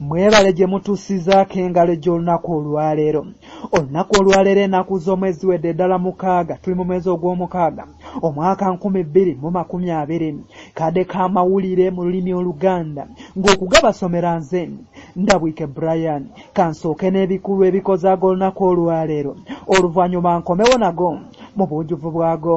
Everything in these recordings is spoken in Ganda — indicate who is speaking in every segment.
Speaker 1: mwebale gye mutuusizaako engalo egy'olunaku olwaleero olunaku olwaleero enaku z'omwezi wedde ddala mukaaga tuli mu mwezi ogw'omukaaga omwaka nkumi bbiri mu makumi abiri kadde ka mawulire mu lulimi oluganda ng'okugabasomera nze ndabwike brian kansooke n'ebikulu ebikozaaga olunaku olwaleero oluvannyuma nkomewo nago mu buujuvu bwago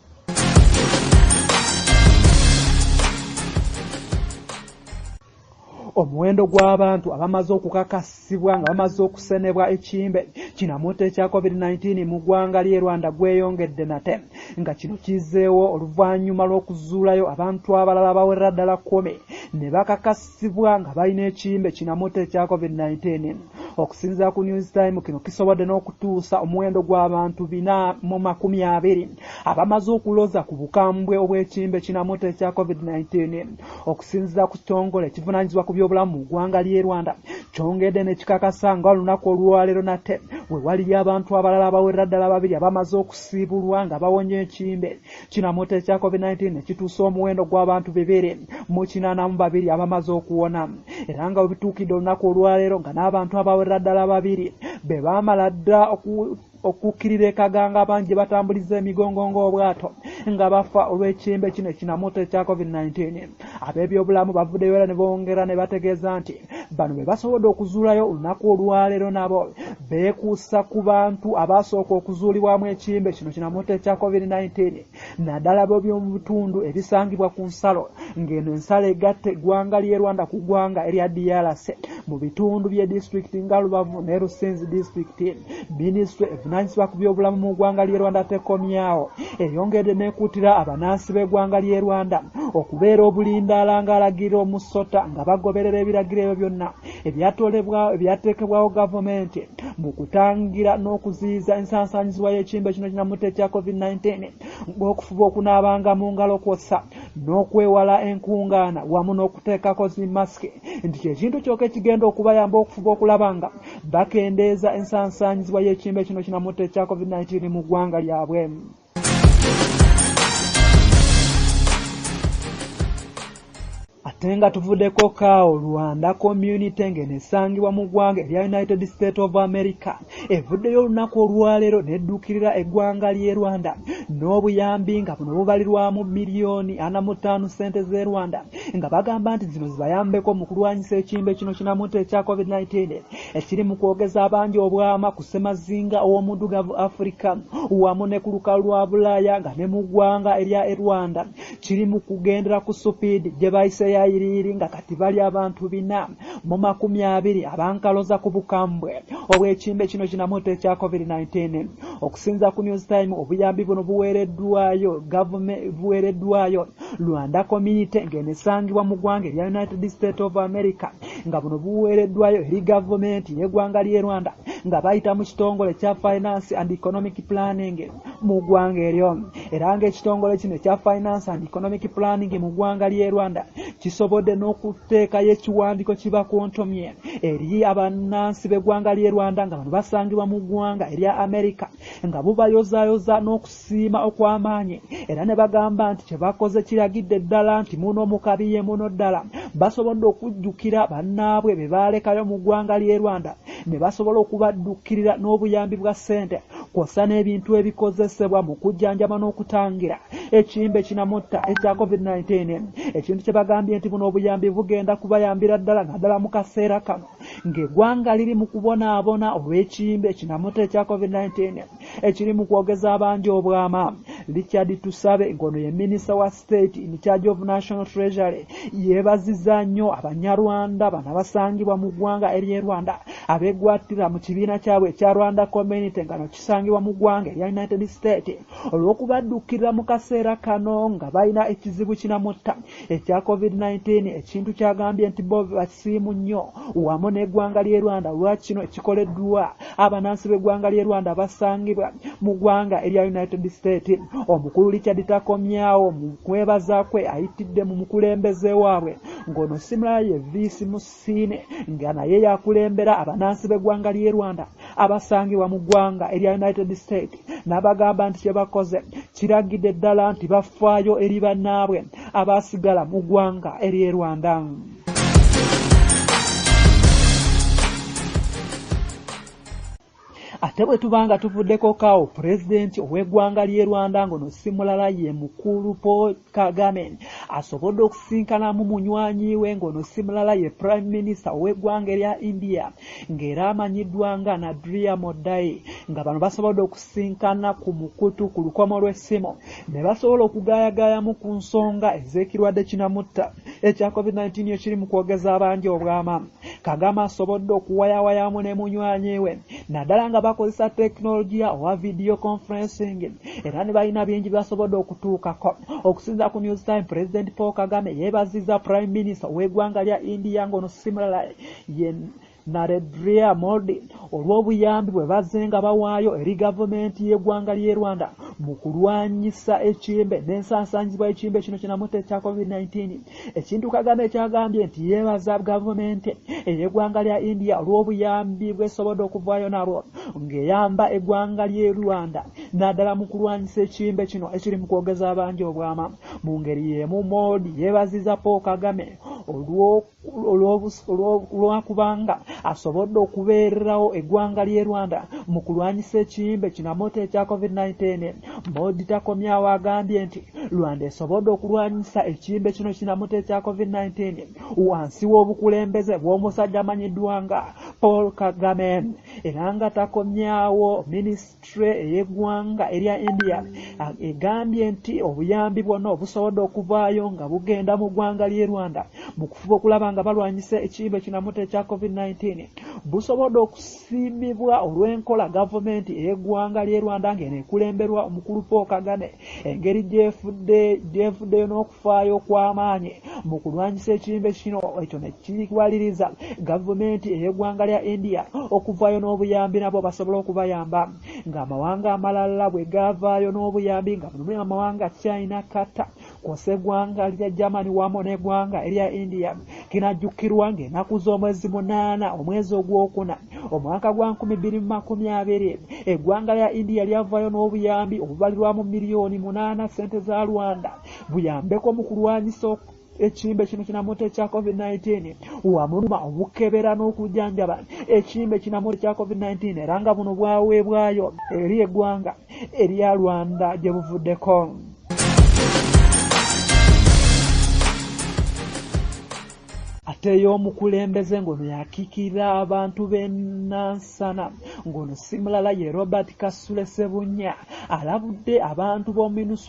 Speaker 1: omuwendo gw'abantu abamaze okukakasibwa nga bamaze okusenebwa ekimbe kinamuta ekya covid-19 mu ggwanga ly'e rwanda gweyongedde nate nga kino kizeewo oluvannyuma lw'okuzuulayo abantu abalala bawerera ddala kumi ne bakakasa sibwa nga balina ekiyimba ekinamutta ekya COVID-19. Okusinzira ku News Time, kino kisobodde n'okutuusa omuwendo gw'abantu bina mu makumi abiri abamaze okuloza ku bukambwe obw'ekiyimba ekinamutta ekya COVID-19. Okusinzira ku kitongole ekivunanyizibwa ku by'obulamu mu ggwanga ly'e Rwanda, kyongedde ne kikakasa nga olunaku olwaleero nate we waliyo abantu abalala abawerera ddala babiri abamaze okusiibulwa nga bawonye ekiyimba Kinamuta ekya COVID-19 kituusa omuwendo gw'abantu bibiri mu kinaana mu babiri abamaze okuwona era nga bwe bituukidde olunaku olwaleero nga n'abantu abawerera ddala babiri be baamala dda okukkirira ekaganga abangi gye batambuliza emigongo ng'obwato nga bafa olw'ekimbe kino ekinamuta ekya COVID-19. Ab'ebyobulamu bavuddeyo era ne bongera ne bategeeza nti bano be basobodde okuzuulayo olunaku olwaleero nabo beekuusa ku bantu abaasooka okuzuulibwamu ekiyimbe kino kinamutta ekya covid-19 naddala b'oby'omu bitundu ebisangibwa ku nsalo ng'eno ensalo egatta eggwanga ly'e Rwanda ku ggwanga erya DRC mu bitundu bye disitulikiti nga lubavu ne rusenzi disitulikiti minisitule evunanyisibwa ku byobulamu mu ggwanga ly'e rwanda tekomyawo eyongedde n'ekuutira abanansi b'eggwanga ly'e rwanda okubeera obulindaala ng'alagira omusota nga bagoberera ebiragiro ebyo byonna ebyatolebwawo ebyateekebwawo gavumenti mu kutangira n'okuziyiza ensansaanyizibwa y'ekimbe kino kinamutta ekya covid-19 ng'okufuba okunaabanga mu ngalo kwossa n'okwewala enkungaana wamu n'okuteekako zi masiki nti kyekintu kyoka ekigenda okubayamba okufuba okulaba nga bakendeeza ensansaanyizibwa y'ekimbe kino kinamutta ekya covid-19 mu ggwanga lyabwe ate nga tuvudeko kaawo rwanda community ng'eno esangibwa mu ggwanga erya united state of america evuddeyo olunaku olwaleero nedduukirira eggwanga ly'e rwanda n'obuyambi nga buno bubalirwamu miliyoni ana mu ttaano ssente z'e rwanda nga bagamba nti zino zibayambeko mu kulwanyisa ekimbe kino kinamunta ekya covid-19 ekiri mu kwogeza abangi obwama ku ssemazinga ow'omuddugavu afirika wamu ne ku lukalu lwa bulaaya nga ne mu ggwanga erya e rwanda kiri mu kugendera ku supiidi gye bayise yayiriiri nga kati bali abantu bina mu makumi abiri abankaloza ku bukambwe obw'ekimbe kino kinamuta ekya covid-19 okusinza ku news time obuyambi buno buweereddwayo gavument buweereddwayo rwanda community ng'eno esangibwa mu ggwanga erya united state of america nga buno buweereddwayo eri gavumenti y'eggwanga ly'e rwanda nga bayita mu kitongole kya finance and economic planning mu ggwanga eryo era ng'ekitongole kino ekya finance and economic planning mu ggwanga ly'e rwanda kisobodde n'okuteekayo ekiwandiiko kibakontomye eri abannansi b'eggwanga ly'e rwanda nga bano basangibwa mu ggwanga erya amerika nga bubayozayoza n'okusiima okw'amaanyi era ne bagamba nti kye bakoze kiragidde ddala nti muno mukabi ye muno ddala basobodde okujjukira bannaabwe be baalekayo mu ggwanga ly'e rwanda ne basobola okubaddukirira n'obuyambi bwa ssente kwossa n'ebintu ebikozesebwa mu kujjanjaba n'okutangira ekiyimbe kinamutta ekya covid-19 ekintu kye bagambye nti buno obuyambi bugenda kubayambira ddala naddala mu kaseera kano ng'eggwanga liri mu kubonaabona olw'ekiyimbe kinamutta ekya covid-19 ekiri mu kwogeza abangi obwama richard tusabe ng'ono ye minisita wa State in charge of National Treasury yeebazizza nnyo Abanyarwanda bano abasangibwa mu ggwanga ery'e Rwanda abeegwattira mu kibiina kyabwe ekya Rwanda Community nga no kisangibwa mu ggwanga erya United States olw'okubaddukirira mu kaseera kano nga balina ekizibu kinamutta ekya COVID-19 ekintu kyagambye nti bo basiimu nnyo wamu n'eggwanga ly'e Rwanda olwa kino ekikoleddwa Abanansi b'eggwanga ly'e Rwanda abasangibwa mu ggwanga erya United States omukulu Richard Takomyawo mu kwebaza kwe ayitidde mu mukulembeze waabwe ng'ono simulala ye Viisi Musiine nga naye yakulembera abanansi b'eggwanga ly'e Rwanda abasangibwa mu ggwanga erya United States n'abagamba nti kye bakoze kiragidde ddala nti bafaayo eri bannaabwe abaasigala mu ggwanga ery'e Rwanda. ate bwe tuba nga tuvuddeko kawo pulezidenti ow'eggwanga ly'e rwanda ngono si mulala ye mukulu paul kagame asobodde okusisinkanamu munywanyi we ngono si mulala ye prime minister ow'eggwanga erya india ng'era amanyiddwa nga nadria modai nga bano basobodde okusisinkana ku mukutu ku lukomo lw'essimu ne basobola okugaayagaayamu ku nsonga ez'ekirwadde kinamutta ekya covid-19 ekiri mu kwogeza abangi obwama kagame asobodde okuwayawayamu ne munywanyi we naddala nga bakozesa tekinologiya owa vidiyo conferencing era ne balina bingi byasobodde okutuukako okusinza ku news time president paul kagame yeebaziza prime minister w'egwanga lya india ng'ono simulala Naredria Modi olw'obuyambi bwe bazzenga bawaayo eri gavumenti y'eggwanga ly'e Rwanda mu kulwanyisa ekimbe n'ensasaanyizibwa y'ekimbe kino kinamuta ekya COVID-19 ekintu Kagame kyagambye nti yeebaza gavumenti ey'eggwanga lya India olw'obuyambi bw'esobodde okuvaayo nalwo ng'eyamba eggwanga ly'e Rwanda naddala mu kulwanyisa ekimbe kino ekiri mu kwogeza abangi obwama. Mu ngeri y'emu Modi yeebaziza Paul Kagame olw'oku olwakubanga asobodde okubeererawo eggwanga ly'e Rwanda mu kulwanyisa ekiyimbe kinamoto ekya COVID-19. Modi Takomyawo agambye nti Rwanda esobodde okulwanyisa ekiyimbe kino kinamoto ekya COVID-19 wansi w'obukulembeze bw'omusajja amanyiddwa nga Paul Kagame era nga Takomyawo minisita Minisitule ey'eggwanga erya India egambye nti obuyambi bwonna obusobodde okuvaayo nga bugenda mu ggwanga ly'e Rwanda mu kufuba okulaba nga balwanyisa ekiyimba ekinamuta ekya COVID-19 busobodde okusiimibwa olw'enkola gavumenti ey'eggwanga ly'e Rwanda ng'eno ekulemberwa omukulu Paul Kagame engeri gy'evuddeyo n'oku okufaayo okw'amaanyi mu kulwanyisa ekirembe kino ekyo ne kiwaliriza gavumenti ey'eggwanga lya india okuvaayo n'obuyambi nabo basobola okubayamba ng'amawanga amalala bwe gaavaayo n'obuyambi nga mulimu amawanga china kata kwosa eggwanga lya germany wamu n'eggwanga erya india kinajjukirwa ng'enaku z'omwezi munaana omwezi ogwokuna omwaka gwa 220 eggwanga lya india lyavaayo n'obuyambi obubalirwa mu miliyoni munaana ssente za rwanda buyambeko mu kulwanyisa ekimbe kino kinamuta ekya covid-19 wamuluma obukebera n'okujjanjaba ekimbe kinamuta ekya covid-19 era nga buno bwaweebwayo eri eggwanga erya rwanda gye buvuddeko ateyo omukulembeze ng'ono yakiikirira abantu b'enansana ng'ono simulala ye robert kasule sebunya alabudde abantu b'ominusu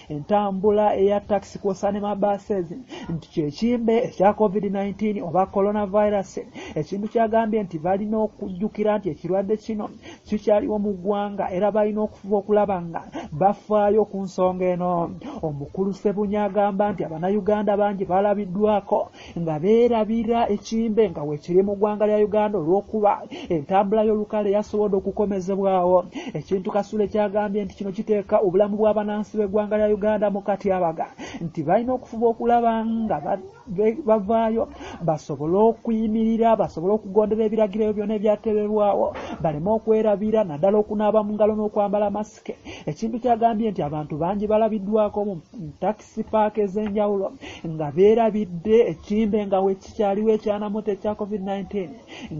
Speaker 1: entambula eya taxi kwosa ne mabases nti kyekimbe ekya covid-19 oba coronavirus ekintu kyagambye nti balina okujjukira nti ekirwadde kino kikyaliwo mu ggwanga era balina okufuba okulaba nga bafaayo ku nsonga eno omukulu sebunya agamba nti abanayuganda bangi balabiddwako nga beerabira ekimbe nga weekiri mu ggwanga lya Uganda olw'okuba entambula y'olukale yasobodde okukomezebwawo ekintu Kasule kyagambye nti kino kiteeka obulamu bw'abanansi b'eggwanga lya Uganda mu katyabaga nti balina okufuba okulaba nga bavaayo basobole okuyimirira basobole okugondera ebiragiro ebyo byona ebyaterebwawo baleme okwerabira naddala okunaaba mu ngalo n'okwambala masike ekintu kyagambye nti abantu bangi balabiddwako mu taxi sipaaka ez'enjawulo nga beerabidde ekimbe nga wekikyaliwo ekyanamota ekya covid-19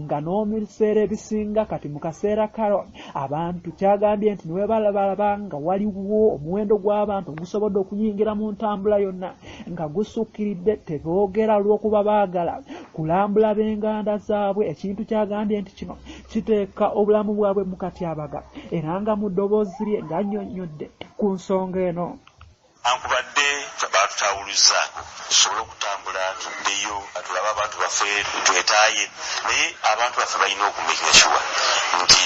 Speaker 1: nga n'omubiseera ebisinga kati mu kaseera karo abantu kyagambye nti niwebalabalaba nga waliwo omuwendo gw'abantu ogusobodde okuyingira mu ntambula yonna nga gusukkiridde teboogera olw'okuba baagala kulambula b'enganda zaabwe ekintu kyagambye nti kino kiteeka obulamu bwabwe mu katyabaga era nga mu ddoboozi lye ng'annyonnyodde ku nsonga eno Newankubadde
Speaker 2: baatutaawuluzzaako tusobole okutambula tuddeyo tulabe abantu baffe twetaaye naye abantu baffe balina oku makinga sure nti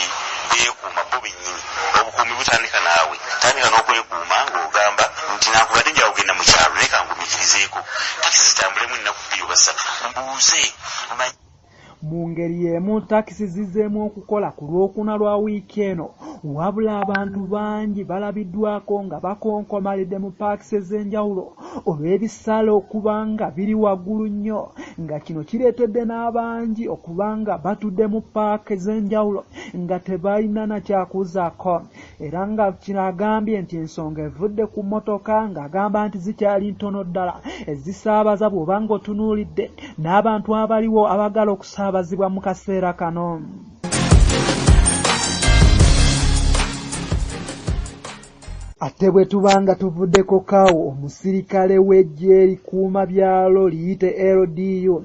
Speaker 2: beekuuma bo bennyini. Obukuumi butandika naawe. Tandika n'okwekuuma ng'ogamba nti nankubadde nja kugenda mu kyalo naye kangumikirizeeko takisi zitambulemu ennaku bbiri oba ssatu mbuuze manye.
Speaker 1: Mu ngeri y'emu takisi zizzeemu okukola ku Lwokuna lwa wiiki eno wabula abantu bangi balabiddwaako nga bakonkomalidde mu paakisi ez'enjawulo olw'ebisale okuba nga biri waggulu nnyo nga kino kireetedde n'abangi okuba nga batudde mu paaka ez'enjawulo nga tebalina na kyakuzaako era nga kino agambye nti ensonga evudde ku mmotoka ng'agamba nti zikyali ntono ddala ezisaabaza bw'oba ng'otunuulidde n'abantu abaliwo abagala okusaabazibwa mu kaseera kano ate bwe tuba nga tuvuddeko kaawo omusirikale w'eggye likuuma byalo liyite ldu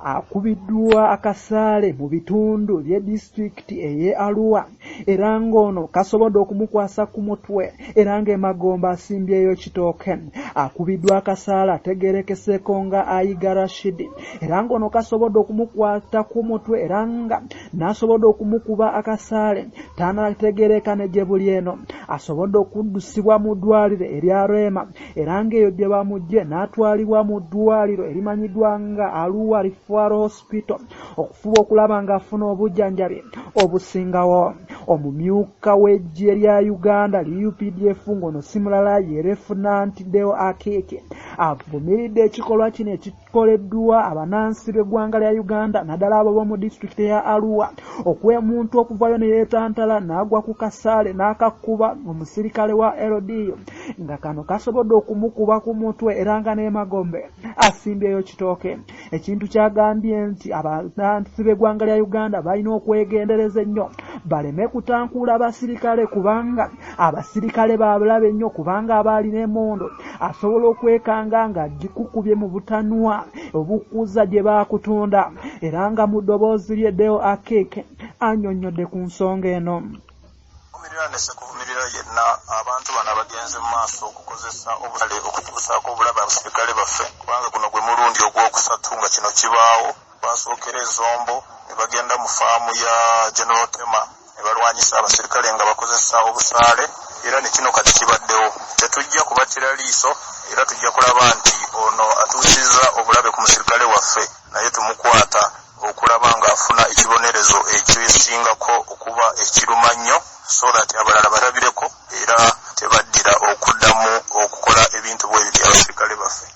Speaker 1: akubiddwa akasaale mu bitundu bye disitulikiti ey'e Arua era ng'ono kasobodde okumukwasa ku mutwe era ng'emagombe asimbyeyo kitooke. Akubiddwa akasaale ategeerekeseeko nga Ayiga Rashidi era ng'ono kasobodde okumukwata ku mutwe era nga n'asobodde okumukuba akasaale tanategeereeka ne gye buli eno asobodde okuddusibwa mu ddwaliro erya Rema era ng'eyo gye bamugye n'atwalibwa mu ddwaliro erimanyiddwa nga aluwa rifuaro hospital okufuba okulaba ng'afuna obujjanjabi obusingawo omumyuka w'eggye lya uganda liupdf ng'ono simulala yerefunantideo akeeke avumiridde ekikolwa kino koleddwa abanansi b'eggwanga lya Uganda naddala abo b'omu disitulikiti eya Arua okwemuntu okuvayo ne yeetantala n'agwa ku kasaale n'akakkuba omusirikale wa LDU nga kano kasobodde okumukuba ku mutwe era nga n'emagombe asimbyeyo kitooke ekintu kyagambye nti abanansi b'eggwanga lya Uganda balina okwegendereza ennyo baleme kutankuula basirikale kubanga abasirikale babulabe nnyo kubanga abaali n'emondo asobola okwekanga nga gikukubye mu butanwa obukuza gye baakutunda era nga mu ddoboozi lye deo akeke anyonnyodde ku nsonga eno kuvumirira
Speaker 3: yenna abantu bano abagenze mu maaso okukozesa obutale okutuusaako obulabe abasirikale baffe kubanga guno gwe mulundi ogwokusatu nga kino kibaawo Baasookera e Zombo ne bagenda mu faamu ya General Tema ne balwanyisa abaserikale nga bakozesa obusaale era ne kino kati kibaddewo. Tetujja kubattira liiso era tujja kulaba nti ono atuusizza obulabe ku musirikale waffe naye tumukwata okulaba ng'afuna ekibonerezo ekisingako okuba ekirumannyo so that abalala balabireko era tebaddira okuddamu okukola ebintu bwebityo abaserikale baffe.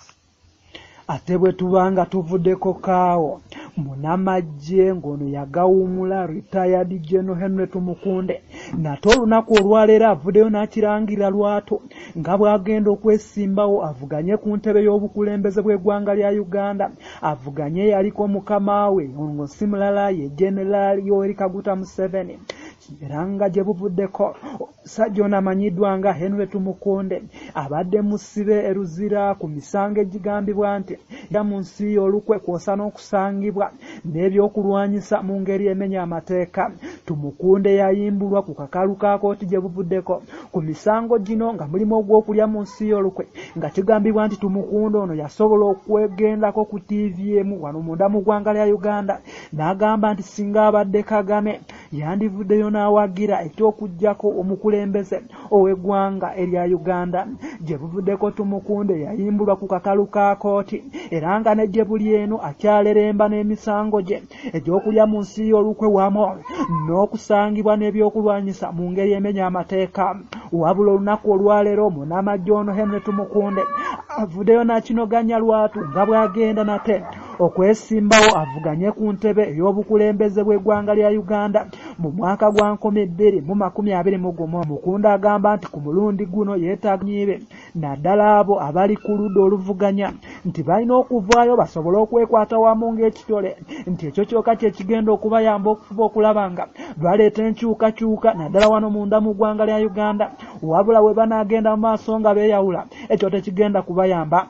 Speaker 3: ate
Speaker 1: bwe tubanga tuvudeko kaawo munamajje ng'ono yagawumula retired general henry tumukunde nate olunaku olwaleero avuddeyo n'akirangira lwato nga bw'agenda okwesimbawo avuganye ku ntebe y'obukulembeze bw'eggwanga lya uganda avuganye yaliko mukama we ngo si mulala ye generaali yoweri kaguta museveni era nga gye buvuddeko Ssajja ono amanyiddwa nga Henry Tumukunde abadde musibe e Luzira ku misango egigambibwa nti gya mu nsi y'olukwe kwosa n'okusangibwa n'ebyokulwanyisa mu ngeri emenya amateeka. Tumukunde yayimbulwa ku kakalu ka kooti gye buvuddeko ku misango gino nga mulimu ogw'okulya mu nsi y'olukwe nga kigambibwa nti Tumukunde ono yasobola okwegendako ku ttiivi emu wano munda mu ggwanga lya Uganda n'agamba nti singa abadde Kagame yandivuddeyo n'awagira eky'okuggyako omukulembeze ow'eggwanga erya Uganda. Gye buvuddeko Tumukunde yayimbulwa ku kakalu ka kooti era nga ne gye buli eno akyaleremba n'emisango gye egy'okulya mu nsi y'olukwe wamu n'okusangibwa n'ebyokulwanyisa mu ngeri emenya amateeka. Wabula olunaku olwaleero munnamaggye ono Henry Tumukunde avuddeyo n'akinoganya lwatu nga bw'agenda nate okwesimbawo avuganye ku ntebe ey'obukulembeze bw'eggwanga lya Uganda mu mwaka gwa nkumi bbiri mu makumi abiri mu gumu. Mukunda agamba nti ku mulundi guno yeetaaga nyiibe naddala abo abali ku ludda oluvuganya nti balina okuvaayo basobole okwekwata wamu ng'ekitole nti ekyo kyoka kye kigenda okubayamba okufuba okulaba nga baleeta enkyukakyuka naddala wano munda mu ggwanga lya Uganda wabula we banaagenda mu maaso nga beeyawula ekyo tekigenda kubayamba.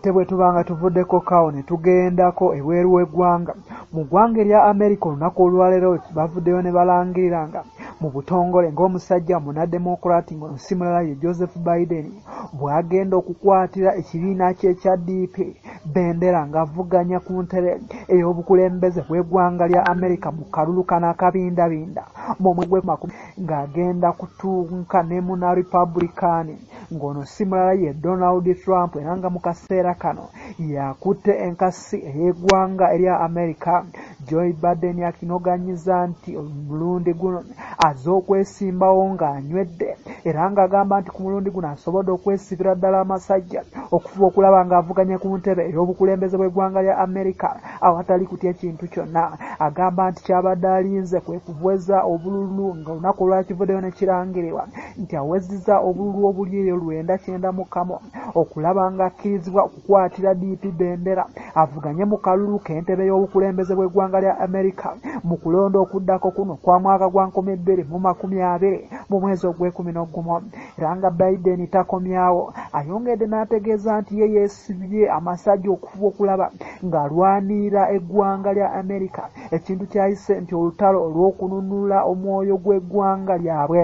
Speaker 1: Ate bwe tubanga tuvuddeko kawo ne tugendako ebweru w'eggwanga, mu ggwanga erya Amerika olunaku olwaleero bavuddeyo ne balangirira nga mu butongole ng'omusajja munademokulaati ng'ono si mulala ye Joseph Biden bw'agenda okukwatira ekibiina kye ekya DP bendera ng'avuganya ku ntebe ey'obukulembeze bw'eggwanga lya Amerika mu kalulu kano akabindabinda mu mwezi gw'emakumi ng'agenda kutuuka ne muna Republikaani. ng'ono si mulala ye Donald Trump era nga mu kaseera kano yakutte enkasi ey'eggwanga erya Amerika Joy Baden akinoganyiza nti omulundi guno aze okwesimbawo ng'anywedde era ng'agamba nti ku mulundi guno asobodde okwesibira ddala amasajja okufuba okulaba ng'avuganya ku ntebe ey'obukulembeze bw'eggwanga lya Amerika awatali kutya kintu kyonna agamba nti kyabadde alinze kwe kuweza obululu ng'olunaku olwakivuddeyo ne kirangirirwa nti awezizza obululu obuli eyo lwenda kyenda mu kamu okulaba ng'akkirizibwa okukwatira DP bendera avuganye mu kalulu k'entebe y'obukulembeze bw'eggwanga lya Amerika mu kulonda okuddako kuno kwa mwaka gwa nkumi bbiri mu makumi abiri mu mwezi ogw'ekumi n'ogumu era nga Biden takomyawo ayongedde n'ategeeza nti ye yeesi Yesibye amasajja okufuba okulaba ng'alwanirira eggwanga lya Amerika ekintu kyayise nti olutalo olw'okununula omwoyo gw'eggwanga lyabwe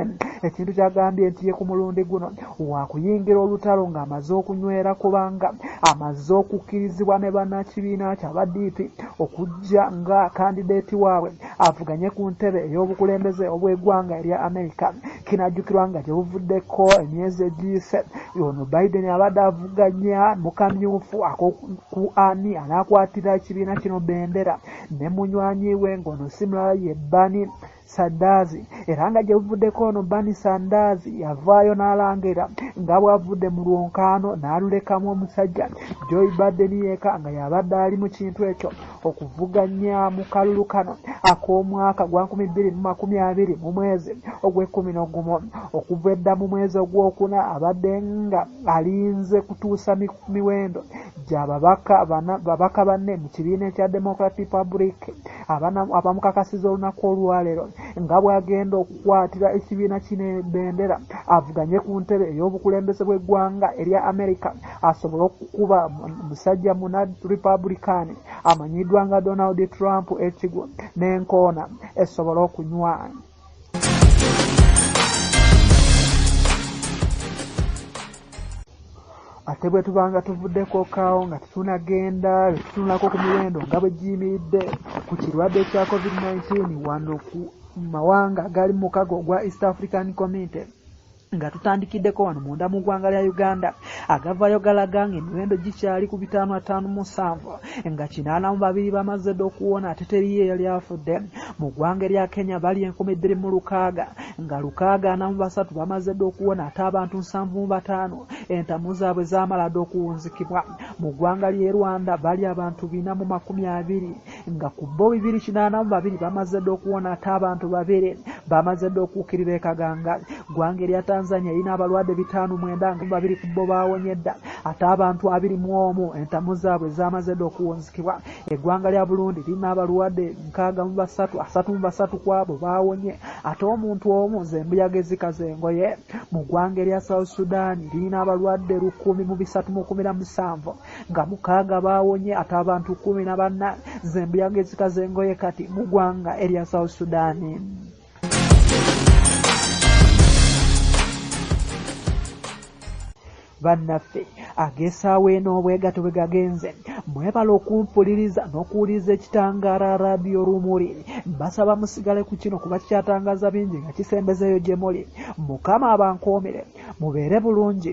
Speaker 1: ekintu kyagambye nti ye ku mulundi guno waakuyingira olutalo ng'amaze okunywera kubanga amaze okukkirizibwa ne bannakibiina kyaba DP okujja nga kandideeti waabwe avuganye ku ntebe ey'obukulembeze obw'eggwanga erya Amerika kinajjukirwa nga gyebuvuddeko emyezi egiyise ono biden abadde avuganya mukamyufu akoku ani anakwatira ekibiina kino bendera ne munywanyi we ngaono simulala ye bani sandaazi era nga gyebuvuddeko ono bani sandaazi yavaayo n'alangira nga bwavudde mu lwonkaano n'alulekamu omusajja joy biden yeka nga yabadde ali mu kintu ekyo okuvuganya mu kalulu kano ak'omwaka gwa nkumi bbiri mu makumi abiri mu mwezi ogw'ekkumi n'ogumu okuva edda mu mwezi ogwokuna abadde nga alinze kutuusa miwendo gya babaka banne mu kibiina ekya democrat republic abamukakasiza olunaku olwaleero nga bw'agenda okukwatira ekibiina kino ebendera avuganye ku ntebe ey'obukulembeze bw'eggwanga erya america asobole okukuba musajja muna republican amanyiddwa nga donald trump ekigo n'enkoona esobole okunywa ate bwe tubanga tuvuddeko kaawo nga tetunagenda tetunulako ku miwendo nga bwe giyimiridde ku kirwadde kya covid-19 wano ku mawanga agali mukago ogwa east african community Nga tutandikiddeko wano munda mu ggwanga lya Uganda, agavayo galaga nga emiwendo gikyali ku bitaano ataano mu nsanvu nga kinaana mu babiri bamazze dda okuwona ate teriyo eyali afudde. Mu ggwanga erya Kenya bali enkumi bbiri mu lukaaga nga lukaaga ana mu basatu bamazze dda okuwona ate abantu nsanvu mu bataano entamu zaabwe zaamala dda okuwunzikibwa. Mu ggwanga ly'e Rwanda bali abantu bina mu makumi abiri nga ku bo bibiri kinaana mu babiri bamaze dda okuwona ate abantu babiri bamaze dda okuukirira ekaganga ggwanga erya tanzania erina abalwadde bitaano mwenda nga babiri ku bo baawonye dda ate abantu abiri mu omu entamu zaabwe zaamaze dda okuwunzikibwa eggwanga lya burundi lirina abalwadde nkaaga mu basatu asatu mu basatu ku abo baawonye ate omuntu omu nze embuyaga ezikaza engoye mu ggwanga erya south sudan lirina abalwadde lukumi mu bisatu mu kumi na musanvu nga mukaaga baawonye ate abantu kumi na banna zembuyaga ezika z'engoye kati mu ggwanga erya south sudaani bannaffe agesaawo eno obwegato bwe gagenze mwebala okumpuliriza n'okuwuliriza ekitangaala radiyo rumuli mbasaba musigale ku kino kuba kikyatangaza bingi nga kisembezeeyo gye muli mukama abankoomere mubeere bulungi